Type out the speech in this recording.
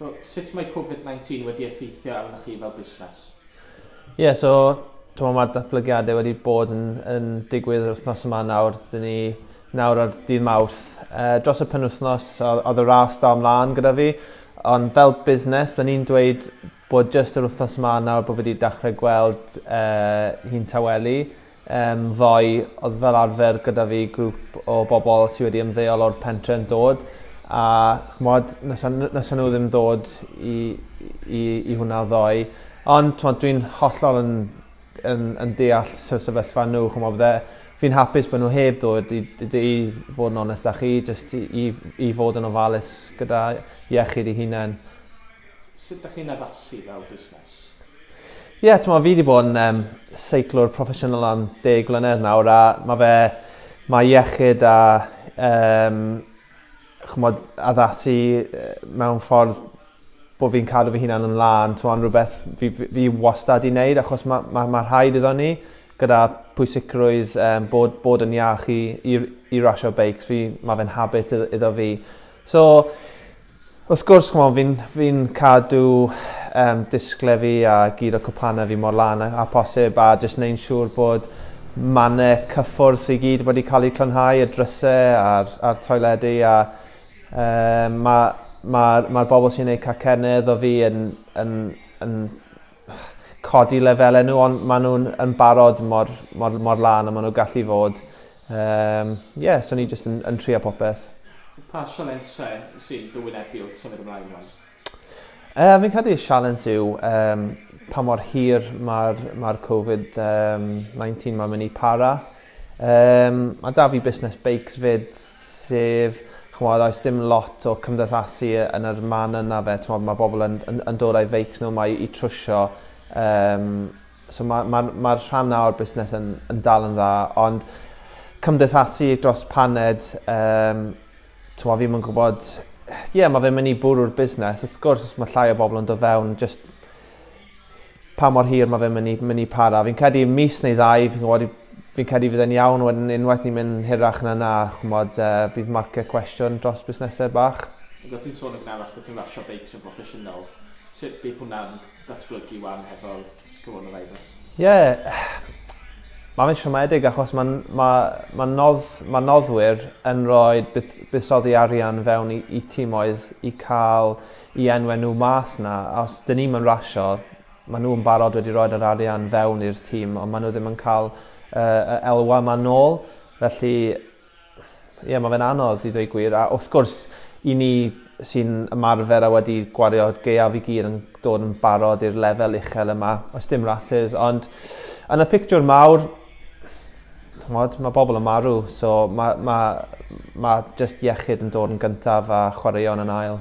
So, sut mae Covid 19 wedi effeithio arnoch chi fel busnes? Ie, yeah, so, ti'n mae'r datblygiadau wedi bod yn, yn digwydd yr wythnos yma nawr. Dyn ni nawr ar dydd mawrth. Uh, dros y penwythnos, oedd y ras da ymlaen gyda fi. Ond fel busnes, dyn ni'n dweud bod jyst yr wythnos yma nawr bod wedi dechrau gweld uh, hi'n tawelu. Yym ddoe odd fel arfer gyda fi grŵp o bobol sy wedi ymddeol o'r pentre yn dod a ch'mod na' sa n- na' sa nw ddim dod i i i hwnna ddoe ond t'mod dwi'n hollol yn yn yn deall sy- sefyllfa n'w ch'mo' bydde fi'n hapus bo' n'w heb ddod i d- d- i fod yn onest â chi jyst i i i fod yn ofalus gyda iechyd 'u hunen. Sut dych chi'n addasu fel busnes? Ie, t'mo' fi 'di bod yn yym seiclwr proffesiynol am deg mlynedd nawr a ma' fe ma' iechyd a yym ch'mod addasu yy mewn ffordd bo' fi'n cadw fy hunan yn lân t'mo' yn rwbeth fi f- fi wastad 'di neud achos ma' ma' ma' rhaid iddo ni gyda pwysigrwydd yym bod bod yn iach i i r- i rasio beics fi ma' fe'n habit idd- iddo fi. So Wrth gwrs, ch'mod, fi'n fi'n cadw um, disgle fi a gyd o cwpana fi mor lan a, a posib a jyst neu'n siŵr bod mannau cyffwrdd i gyd wedi cael eu clynhau, y drysau a'r, ar toiledu a um, mae'r ma, ma, ma bobl sy'n gwneud cacennedd o fi yn, yn, yn, yn codi lefelau nhw, ond maen nhw'n yn barod mor, mor, mor lan a maen nhw'n gallu fod. Ie, um, yeah, so ni jyst yn, yn trio popeth. Pa sialensau sy'n dywynebu wrth symud ymlaen rwan? Uh, fi'n credu y sialens yw um, pa mor hir mae'r ma Covid-19 um, mae'n mynd i para. Um, mae da fi busnes beics fyd sef, ch'mod, oes dim lot o cymdeithasu yn yr man yna 'fe, t'mod ma' bobl yn yn yn dod â'i feics nhw 'ma i i trwsio yym so ma' ma'r ma'r rhan 'na o'r busnes yn yn dal yn dda ond cymdeithasu dros paned yym t'mo' fi'm yn gwbod ie ma' fe'n myn' i bwrw'r busnes wrth gwrs os ma' llai o bobl yn do' fewn jyst pa mor hir ma' fe'n myn' i myn' i para fi'n credu mis neu ddau fi'n gwbod i- fi'n credu fydd e'n iawn wedyn unwaith ni'n myn' hirach na 'na ch'mod yy bydd marced cwestiwn dros busnese bach. Ac o' ti'n sôn yn gynharach arall bo' ti'n rasio beics yn broffesiynol. Sut bydd hwnna'n datblygu 'wan hefo'r coronavirus? Ie ma' fe'n siomedig achos ma'n ma' ma' nodd- ma' noddwyr yn rhoid budd- buddsoddi arian fewn i i timoedd i ca'l i enwe nhw mas na os dyn ni'm yn rasio ma nhw yn barod wedi roed yr arian fewn i'r tîm ond ma nhw ddim yn cael uh, y elwa ma nôl felly ie yeah, mae fe'n anodd i ddweud gwir a wrth gwrs i ni sy'n ymarfer a wedi gwario geiaf i gyd yn dod yn barod i'r lefel uchel yma os dim rhasys ond yn y pictiwr mawr mod, mae bobl yn marw so mae ma, ma just iechyd yn dod yn gyntaf a chwaraeon yn ail